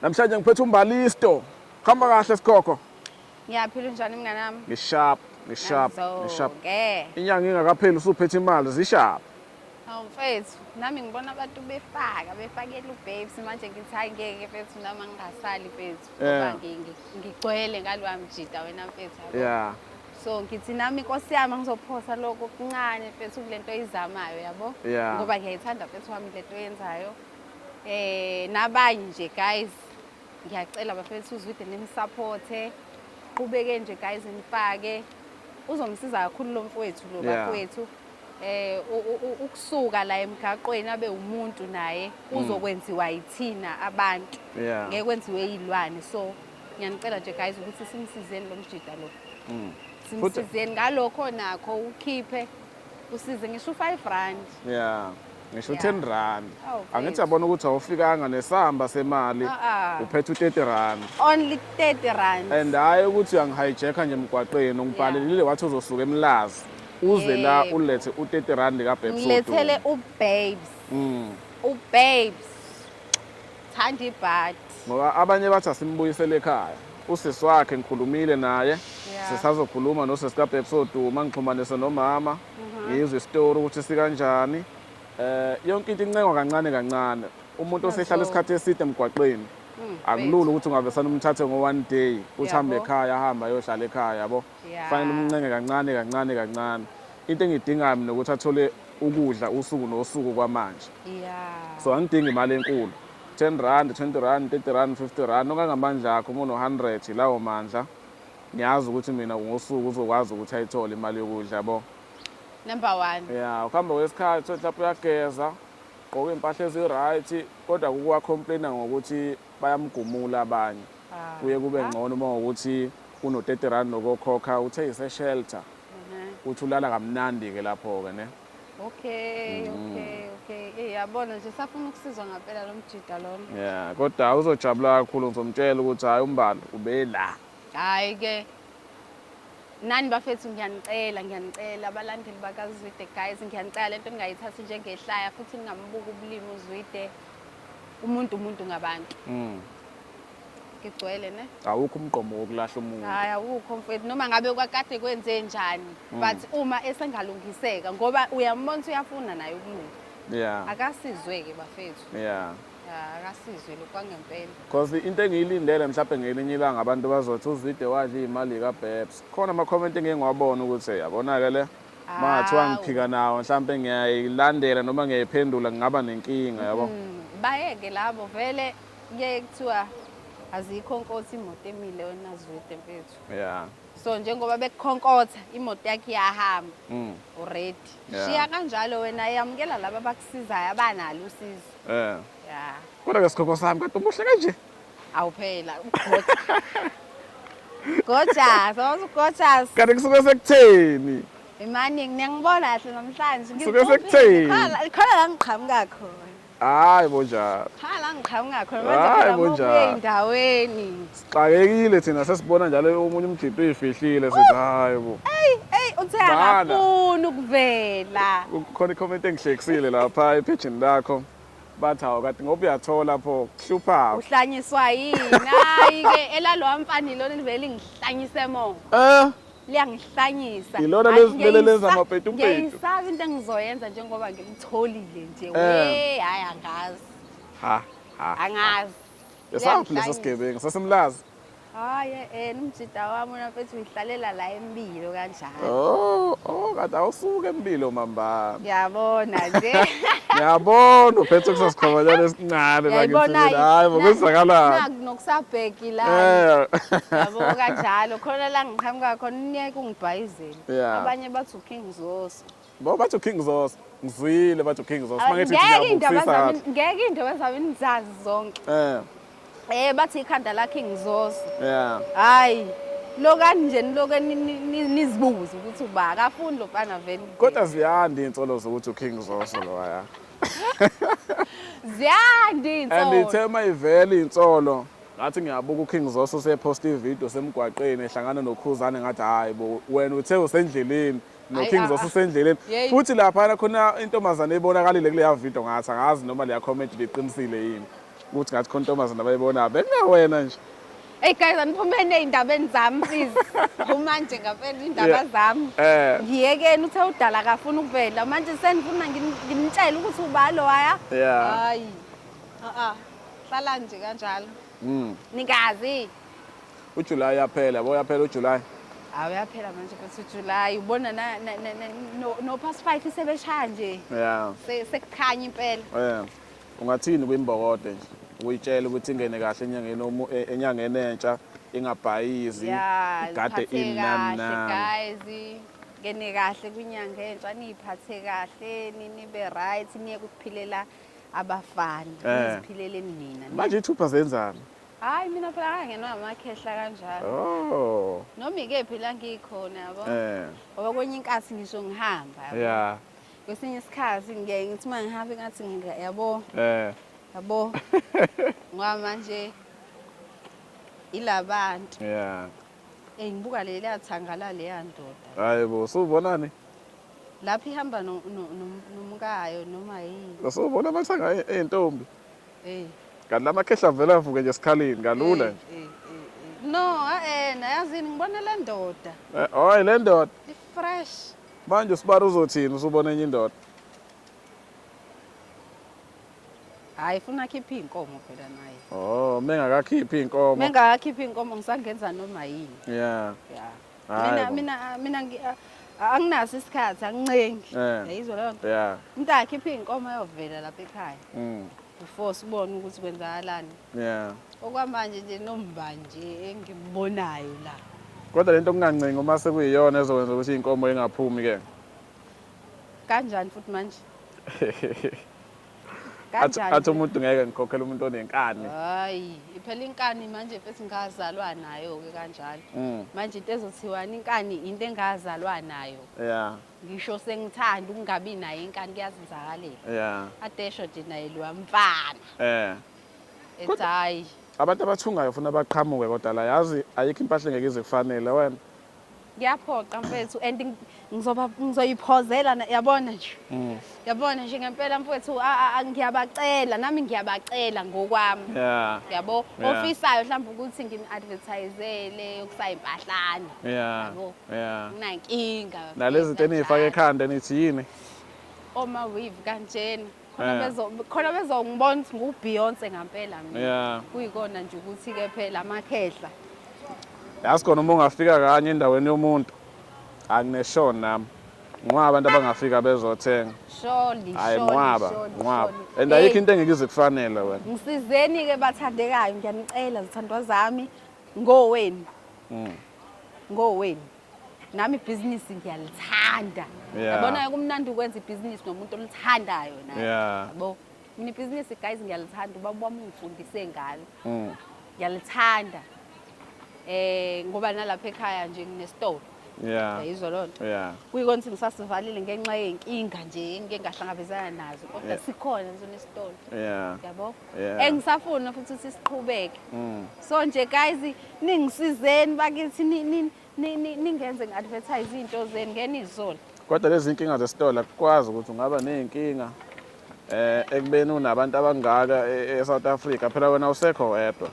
Namhlanje ngiphethe umbalisto. Khamba kahle sikhokho. Ngiyaphila unjani mngane wami? Ngisharp, ngisharp, ngisharp. Inyanga ingakapheli usuphethe imali zisharp. Hawu mfethu, nami ngibona abantu befaka, befakela ubabes manje ngithi hayi ngeke mfethu nami angingasali mfethu. Ngoba ngigcwele ngaloya mjita wena mfethu. Yeah. so ngithi nami nkosi yami ngizophosa lokho kuncane mfethu kule nto oyizamayo yabo ngoba ngiyayithanda mfethu wami le nto oyenzayo eh nabanye nje guys ngiyacela bafethu uzwide nimsupporte qhubeke nje guys nifake uzomsiza kakhulu lo mfowethu lo Yeah. bafowethu eh u- u- u- ukusuka la emgaqweni abe umuntu naye uzokwenziwa yithina abantu Mm. Yeah. ngeke kwenziwe yilwane so ngiyanicela nje guys ukuthi simsizeni lo mjida lo Mm. Futhi- simsizeni ngalokho nakho ukhiphe usize ngisho u-five rand ya ngisho Yeah. u-ten rand Oh, angithi mfethu. yabona ukuthi awufikanga nesamba semali Ah, ah. uphethe u-thirty rand only 30 rand and hhayi ukuthi uyangihijack-a nje emgwaqeni ungibhalelile wathi uzosuka emlazi uze la Yebo. ulethe u-thirty rand ngilethele kabhebsodu ubabes Mm. ubabes Thanda ibhadi. Ngoba abanye bathi asimbuyisele ekhaya. Usisi wakhe ngikhulumile naye. Yeah. Sisazokhuluma nosisi kaBabes Oduma ngixhumanise nomama. Ngizwe istory ukuthi sikanjani. Eh yonke into incengwa kancane kancane. Umuntu osehlala isikhathi eside emgwaqeni akulula ukuthi ungavesana umthathe ngo one day uthi hambe Yabo. ekhaya ahambe ayohlala ekhaya yabo. Yeah. Fanele umncenge kancane kancane kancane. Into engidingayo mina ukuthi athole ukudla usuku nosuku kwamanje. Yeah. So angidingi imali enkulu. 10 rand, 20 rand, 30 rand, 50 rand okangamandla akho umuntu 100 lawo mandla. Ngiyazi ukuthi mina ngosuku uzokwazi ukuthi ayithole imali yokudla yabo. Number 1. Yeah, ukuhamba kwesikhathi uthi lapho uyageza, gqoka impahla ezi right kodwa kukuwa complainer ngokuthi bayamgumula abanye kuye kube ngcono uma ngokuthi uno 30 rand nokokhokha uthe ise shelter uthi ulala kamnandi ke lapho ke ne Okay, mm. okay, okay. Eh yabona nje safuna ukusizwa ngempela lo mjida lona. Yeah, kodwa uzojabula kakhulu ngizomtshela ukuthi hayi umbalo ubela. Hayi ke nani bafethu ngiyanicela ngiyanicela abalandeli bakazwide guys ngiyanicela lento ningayithathi njengehlaya futhi ningambuka ubulimi uzwide umuntu umuntu ngabantu mm. ngigcwele ne awukho umgqomo wokulahla umuntu hayi awukho mfethu noma ngabe kwakade kwenze njani mm. but uma esengalungiseka ngoba uyambona uyafuna naye ukulunga yeah akasizwe ke bafethu yeah akasizwe lokhu kwangempela because into engiyilindele mhlawumbe ngelinye ilanga abantu bazothi uzwide wadla iy'mali kabebs khona ama-comment engiye ngiwabona ukuthi yabona-ke le uma ngathiwa ngiphika nawo mhlawumpe ngiyayilandela noma ngiyayiphendula ngingaba nenkinga yabo mm, bayeke labo vele kuyaye kuthiwa azikho nkosi imoto emile wena zwide mfethu yeah so njengoba bekukhonkotha imoto yakhe iyahamba mm. uready yeah. shiya kanjalo wena yamukela laba abakusizayo abanalo usizo yeah yeah kodwa ke sikhokho sami kade umuhle kanje Awu phela Gojas, wazi uGojas. Kanti kusuke sekutheni? Imani ngiyangibona kahle namhlanje. Kusuke sekutheni? Khona la ngiqhamuka khona. Hayi bo njalo. Cha la ngiqhamuka khona manje phela ngokuya endaweni. Sixakekile thina sesibona njalo omunye umgidi uyifihlile sithi hayi bo. Ey ey uthe akafuni ukuvela. Kukhona icomment engihlekisile lapha ephejini lakho. bathi hawu kati ngoba uyathola pho kuhlupha uhlanyiswa yini hayi ke elalowa mfana ilona livele lingihlanyise mo eh liyangihlanyisa ilona lezilele lenza amapetu petu ngiyisaka into engizoyenza njengoba ngimtholile nje eh. we hayi angazi ha ha angazi esaphi leso sigebengu sasemlazi Hayi yena umjida wami una mfethu uyihlalela la embilo kanjalo. Oh, oh kade awusuke embilo mamba. Ngiyabona nje. Ngiyabona uphethe kusasikhomanyana esincane la ngithini. Hayi ngokuzakalana. Naku nokusabheki la. Eh. Yabo kanjalo khona la ngiqhamuka khona unyeke ungibhayizile. Abanye bathi uKing Zoso. Ngoba bathi uKing Zoso. Ngizwile bathi uKing Zoso. Mangithi ngiyabusisa. Ngeke into bezami nizazi zonke. Eh. Eh bathi ikhanda la King Zoso. Yeah. Hayi. lokani nje niloke nizibuze ukuthi uba akafuni lo mfana vele kodwa ziyanda iy'nsolo zokuthi uking zoso lowaya ziyanda iy'nsolo and ithe uma ivele iy'nsolo ngathi ngiyabuka uking zoso sephosta ividiyo semgwaqeni ehlangana nokhuzane ngathi hhayi bo wena uthe usendleleni noKings osesendleleni futhi laphana khona intombazane ebonakalile kuleya video ngathi angazi noma leya comment liqinisile yini ukuthi ngathi khona intombazane abayibona bekungawena nje Hey guys aniphumeni ezindabeni zami please. Phuma nje ngavela indaba zami. Eh. Ngiyekeni uthe udala akafuna ukuvela. Manje senifuna nginitshele ukuthi ubalo waya. Hayi. Ah ah. Hlala nje kanjalo. Mm. Nikazi. uJulayi uyaphela bo uyaphela uJulayi hawu uyaphela manje futhi uJulayi ubona no-past five isebeshaya nje ya sekukhanya impela um ungathini kwimbokode nje ukuyitshela ukuthi ingene kahle enyangeni e, enyangeni entsha ingabhayizi igade imnamnami ngene kahle kwinyanga entsha niyiphathe kahle nibe right niye kuphilela abafana eh. niziphileleni nina manje ithupha zenzani Hayi mina phela ngangenwa amakhehla kanjalo. Oh. Noma ikephi la ngikhona yabo. Eh. Ngoba kwenye inkathi ngisho ngihamba yabo. Yeah. Kwesinye isikhathi ngiye ngithi uma ngihamba ingathi ngidla yabo. Eh. Yabo. Ngoba manje ilabantu. Yeah. Eh ngibuka le liyathangala leya ndoda. Hayi bo, usubonani? Lapha ihamba nomkayo noma yini. Usubona amathanga entombi. Hey. Kanti lamakhehla vele avuke nje sikhalini kalula nje. Hey, hey, hey. No, eh nayazini ngibona le ndoda. Eh, hoy le ndoda. Ifresh. Manje usibara uzothini usubona enye indoda? Hayi funa akhiphe inkomo phela naye. Oh, mengakakhiphi inkomo. Mengakakhiphi inkomo ngisangenza noma yini. Yeah. Yeah. Hayi mina bo. mina mina ngi- a- a- anginaso isikhathi angincengi Eh. yayizwa leyo nto Yeah. umntana akhiphe iy'nkomo ayovela lapha ekhaya Mm. before sibone ukuthi kwenzakalani Yeah. okwamanje nje nomba nje engimbonayo la Kodwa lento kungancengi uma sekuyiyona ezokwenza ukuthi inkomo ingaphumi ke. kanjani futhi manje Kanjani? Athi umuntu ngeke ngikhokhele umuntu onenkani. Hayi, iphela inkani manje mfethu ngazalwa nayo ke kanjalo. Mm. Manje into ezothiwani inkani into engazalwa nayo. Yeah. Ngisho sengithanda ukungabi nayo inkani kuyazenzakalela. Yeah. Adesho nje naye lo mfana. Eh. Ethi hayi. Abantu abathungayo ufuna baqhamuke kodwa la yazi ayikho impahla engeke ize kufanele wena. Kuyaphoqa mfethu and ngizoba ngizoyiphozela yabona nje. Mm. Yabona nje ngempela mfethu ngiyabacela nami ngiyabacela ngokwami. Yeah. Yabo ofisayo mhlawumbe ukuthi ngim advertisele ukusayi impahlane. Yeah. Yabo. Yeah. Nginankinga. Nalezi zinto enifaka ekhanda nithi yini? Oma weave kanjena. khona Eh. bezo khona bezongibona ukuthi nguBeyonce ngampela mina Yeah. kuyikona nje ukuthi ke phela amakhehla yazi khona uma ungafika kanye endaweni yomuntu angineshoni nami nqwaba abantu abangafika bezothenga sholi hayi sholi, nqwaba sholi, nqwaba sholi. and ayikho Hey, into engeke ize kufanele wena ngisizeni ke bathandekayo ngiyanicela zithandwa zami ngoweni Mm. ngoweni nami ibhizinisi ngiyalithanda Yeah. yabona kumnandi ukwenza ibhizinisi nomuntu olithandayo naye Yeah. yabo mina ibhizinisi guys ngiyalithanda ubaba wami ungifundise ngalo Mm. ngiyalithanda eh ngoba nalapha ekhaya nje nginesitolo Yeah. yayizwa loo nto Yeah. kuyikona ukuthi ngisasivalile ngenxa yey'nkinga nje engike ngahlangabezana nazo kodwa Yeah. sikhona nje nesitolo Yeah. yabo Yeah. engisafuna futhi ukuthi siqhubeke Mm. so nje guys Ningisizeni bakithi ningenze ngi-advertise iy'nto zenu ngena izolo. Kodwa lezi nkinga zesitolo akukwazi ukuthi ungaba ney'nkinga eh ekubeni unabantu abangaka e, e-South Africa phela wena usekho wedwa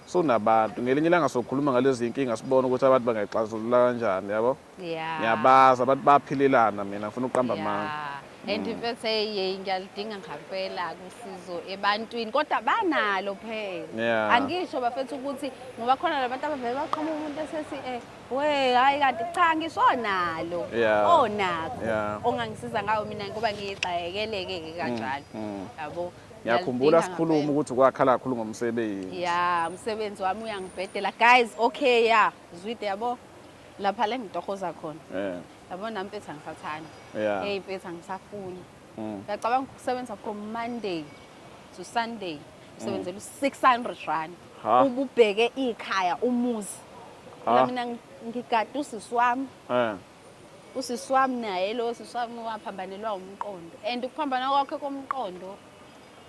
sunabantu ngelinye ilanga sokhuluma ngalezi nkinga sibone ukuthi abantu bangayixazulula kanjani yabo Yeah. ngiyabazi abantu bayaphilelana mina ngifuna ukuqamba amanga Yeah. And in fact hey yey ngiyalidinga ngampela kusizo ebantwini kodwa banalo phela. Yeah. Angisho bafethu ukuthi ngoba khona labantu abavele baqhamuka umuntu esethi eh we hayi kanti cha ngisho onalo. Yeah. Onakho. Yeah. Ongangisiza ngawo mina ngoba ngiyigxayekeleke ke kanjalo. mm. Yabo. ngiyakhumbula Ngiyalidinga sikhuluma ngampela. ukuthi kwakhala kakhulu ngomsebenzi ya umsebenzi wami uyangibhedela guys okay ya zwide yabo lapha la engitohoza khona Eh. yabona nami mfethu angisathani Yeah. hey mfethu angisafuni Mm. ngiyacabanga ukusebenza from monday to sunday usebenzela u-600 rand Ha. ububheke ikhaya umuzi Ha. la mina ngi- ngigade usisi wami Eh. usisi wami naye lo sisi wami waphambanelwa umqondo and ukuphambana kwakhe komqondo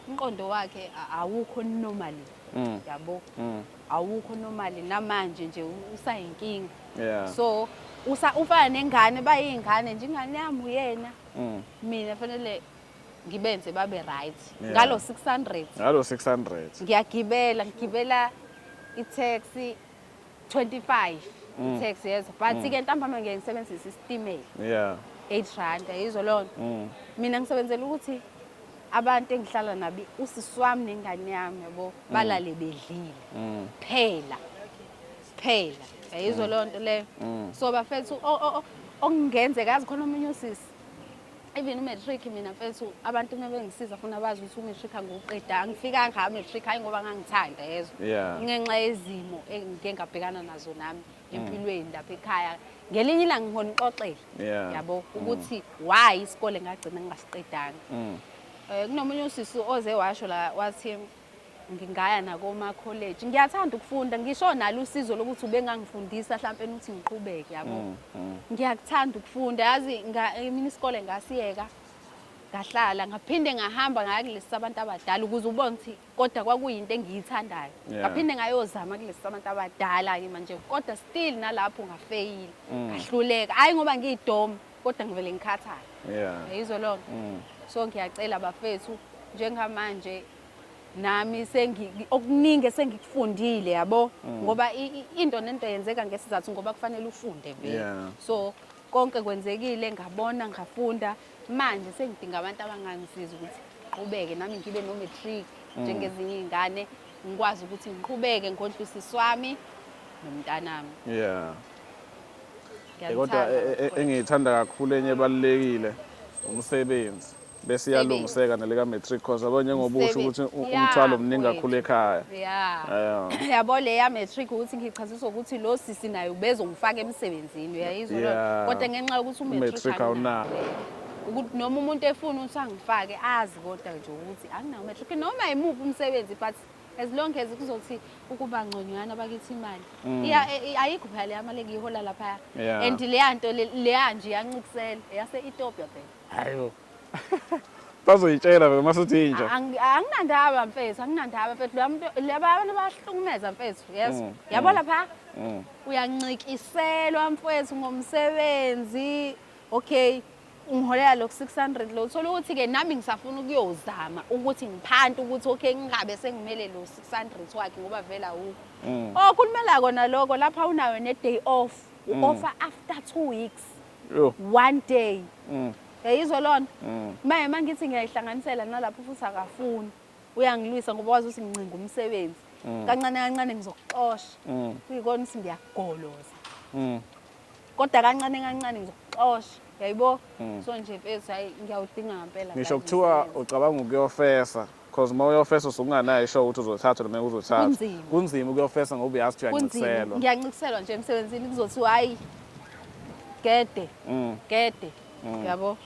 umqondo wakhe awukho normally mm. yabo mm. awukho normally namanje nje usayinkinga yeah. so usa ufana nengane bayingane nje ingane yami uyena mm. mina fanele ngibenze babe right yeah. ngalo 600 ngalo 600 ngiyagibela ngigibela i-taxi 25 mm. tax yezo but mm. ke ntambama ngeke ngisebenzise isitimela yeah 8 rand yizo lona mm. mina ngisebenzela ukuthi abantu engihlala nabo usisi wami nengane yami yabo mm. balale bedlile mm. phela phela yizo mm. loo nto leyo mm. so bafethu ongenzeka azi khona omunye usisi even umatric mina mfethu abantu uma bengisiza funa bazi ukuthi umatric angiwuqeda angifika ngayo umatric hhayi ngoba ngangithanda yezwa ngenxa yezimo engike ngabhekana nazo nami mm. empilweni lapha ekhaya ngelinye ilanga ngihona uxoxele yabo mm. ukuthi why isikole ngagcina ngingasiqedanga um kunomunye usisi oze washo la wathi ngingaya nakomakholeji ngiyathanda ukufunda ngisho nalo usizo lokuthi ubengangifundisa mhlawumpe ukuthi ngiqhubeke yabo mm, mm. ngiyakuthanda ukufunda yazi mina isikole ngasiyeka ngahlala ngaphinde ngahamba ngaya kulesi sabantu abadala ukuze ubone ukuthi kodwa kwakuyinto engiyithandayo ngaphinde ngayozama kulesi sabantu abadala-ke manje kodwa still nalapho ngafeyile mm. ngahluleka hhayi ngoba ngiyidoma kodwa ngivele ngikhathale yeah. yizwe loo nto mm. so ngiyacela bafethu njengamanje nami sengi okuningi esengikufundile yabo mm. ngoba into nento yenzeka ngesizathu ngoba kufanele ufunde vele yeah. so konke kwenzekile ngabona ngafunda manje sengidinga abantu abangangisiza ukuthi qhubeke nami ngibe no matric mm. njengezinye izingane ngikwazi ukuthi ngiqhubeke ngondlisiswami nomntanami yeah Eh, kodwa eh, eh, eh, engiyithanda kakhulu enye ebalulekile umsebenzi bese iyalungiseka nelika-matric course yabo njengoba usho ukuthi u- Yeah, umthwalo mningi mfowethu. kakhulu ekhaya Yeah. Yeah. yabo le ya-matric ukuthi ngichaziswa ukuthi lo sisi naye ubezongifaka emsebenzini uyayizwa leyo nto? Yeah. kodwa ngenxa yokuthi U-matric umatric awunawo. ukuthi noma umuntu efuna ukuthi angifake azi kodwa nje ukuthi anginawo matric noma yimuphi umsebenzi but as long as kuzothi ukuba ngconywana bakithi imali mm. iya e, e, ayikho phela leya mali engiyihola lapha and leya nto leya nje yancikisela yase Ethiopia phela hayo bazoyitshela vele masuthi inja anginandaba mfethu anginandaba mfethu laba abantu bahlukumeza mfethu yes mm, yabo mm. lapha uyancikiselwa mfethu ngomsebenzi okay ungiholela lokhu 600 lo uthola ukuthi ke nami ngisafuna ukuyozama ukuthi ngiphante ukuthi okay ngingabe sengimele lo 600 wakhe ngoba vele awukho mm. oh kulumela kona lokho lapha unayo ne day off u mm. offer after 2 weeks Yo. one day mm. yayizwa lona mm. maye mangithi ngiyayihlanganisela nalapho futhi akafuni uyangilwisa ngoba wazi ukuthi ngincinga umsebenzi mm. kancane kancane ngizokuxosha mm. kuyikona ukuthi ngiyagoloza mm. kodwa kancane kancane ngizokuxosha yayibo mm. so nje mfethu hayi ngiyawudinga ngampela ngisho kuthiwa ucabanga ukuyofesa because uma uyofesa usukunganayo isho ukuthi uzothatha noma uzothatha kunzima ukuyofesa ngoba uyazi ukuthi uyancikiselwa ngiyancikiselwa nje emsebenzini kuzothiwa hayi gede mm. gede mm. yabo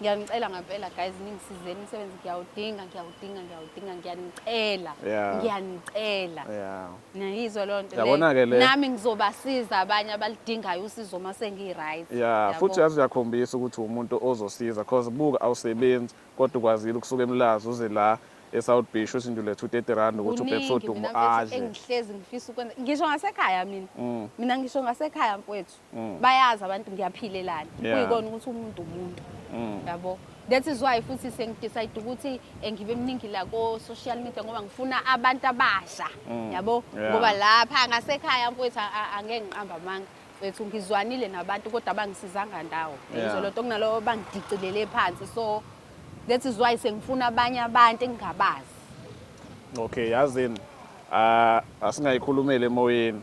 ngiyanicela ngampela guys ningisizeni umsebenzi ngiyawudinga ngiyawudinga ngiyawudinga ngiyanicela yeah. ngiyanicela yeah. niyizwa loo nto yabona-ke le nami ngizobasiza abanye abalidingayo usizo uma sengiyi-right yeah. futhi yazi uyakhombisa ukuthi umuntu ozosiza cause buka awusebenzi kodwa ukwazile ukusuka emlazi uze la e-south beach usindule 230 rand ukuthi ubhebsodumo adle engihlezi ngifisa ukwenza ngisho ngasekhaya mina mm. mina ngisho ngasekhaya mfowethu mm. bayazi abantu ngiyaphilelana yeah. kuyikona ukuthi umuntu umuntu mm. yabo that is why futhi sengidecide ukuthi eh, ngibe mningi la ko-social media ngoba ngifuna abantu abasha mm. yabo yeah. ngoba lapha ngasekhaya mfowethu angeke ngiqamba amanga mfowethu ngizwanile nabantu kodwa abangisizanga ndawo yizo loo nto kunalowo bangidicilele phansi so that is why sengifuna abanye abantu engingabazi okay yazini uh, asingayikhulumeli emoyeni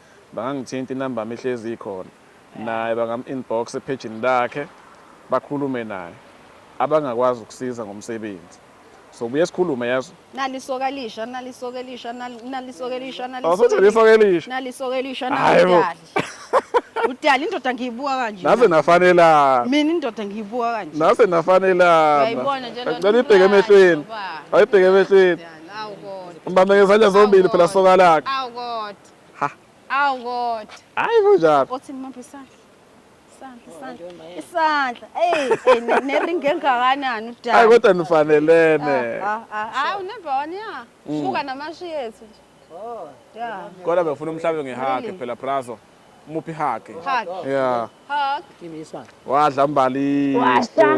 Bangangithinta inumber yami ihlezi ikhona naye bangam inbox ephejini lakhe bakhulume naye abangakwazi ukusiza ngomsebenzi sobuye sikhulume yazi nali isoka elisha nali isoka elisha nali nali isoka elisha nali Oh, sothi isoka isoka elisha. nali isoka elisha Hayi bo. nali udali udali indoda ngiyibuka kanje naze nafanelana mina indoda ngiyibuka kanje naze nafanelana Uyayibona nje lona ngicela ibheke umntwana, emehlweni baba. ayibheke emehlweni Udali, awu kodwa umbambe ngezandla zombili phela soka lakhe awu kodwa Ha. Awu kodwa. Hayi kunjalo. Othi ngimaphi isandla? Isandla, isandla. Isandla. Ey, ey ne- neringi engakanani udaba. Hayi kodwa nifanelene. Ah, ah, ah. Hayi unebe one ya. Mm. Buka namashi yethu nje. Yeah. Kodwa bengifuna umhlabe ngehage Really? phela brazo. Muphi hage? Hug. Yeah. Hug. Wadla mbali. Washa.